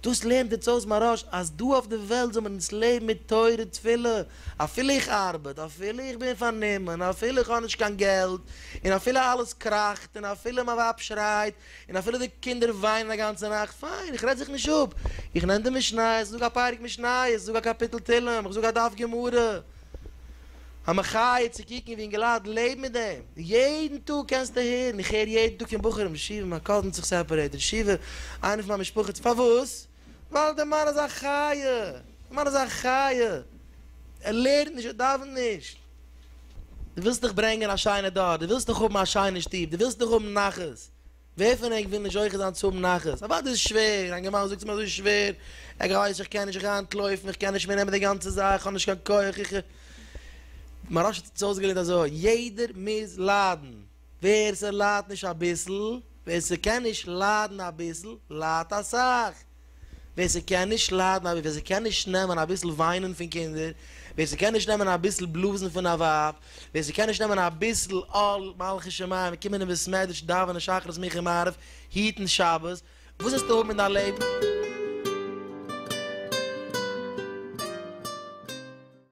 דאס לערנט אונז אויס מהרש אז דא אויף די וועלט זאל מען אונז לעבן מיט תורה תפילה, אפילו איך ארבעט, אפילו איך בין פארנומען, אפילו איך האב נישט קיין געלט, און אפילו אלעס קראכט, און אפילו מיין ווייב שרייט, און אפילו די קינדער וויינען א גאנצע נאכט, פיין, איך רעד זיך נישט אפ, איך נעם די משניות, איך זאג א פרק משניות, איך זאג א קאפיטל תהילים, איך זאג א דף גמרא. המחיה צו קוקן ווי אינגעלייט לעבן מיט דעם. יעדן טאג קענסטו הערן, איך הער יעדן טאג פון בחורים, ישיבה, מיין קאזין האט זיך סעפערעיטעד, ישיבה, איינער פון מיין משפחה האט זיך, פארוואס? ווייל דער מאן איז א חיה, דער מאן איז א חיה, ער לערנט נישט, ער דאווענט נישט. דו ווילסט דאך ברענגען א שיינע דור, דו ווילסט דאך האבן א שיינע שטוב, דו ווילסט דאך האבן נחת, ווער פון ענק וויל נישט זוכה זיין צו האבן נחת? אוודאי איז שווער, א גמרא זאגט ס'איז מיר אזוי שווער, איך ווייס איך קען נישט, איך אנטלויפן, איך קען נישט מער נעמען די גאנצע זאך, איך האב נישט קיין כח, איך. מהרש א האט אונז אויסגעלערנט אזוי, יעדער מוז ליידן. ווער ס'ליידט נישט אביסל, ווער ס'קען נישט ליידן אביסל, ליידט אסאך. ווער ס'קען נישט ליידן אביסל, ווער ס'קען נישט נעמען אביסל וויינען פון קינדער, ווער ס'קען נישט נעמען אביסל בלאזן פון א ווייב, ווער ס'קען נישט נעמען אביסל עול מלכות שמים, קומען אין בית מדרש, דאווענען שחרית מנחה מעריב, היטן שבת, וואס וועסטו האבן אין דיין לעבן?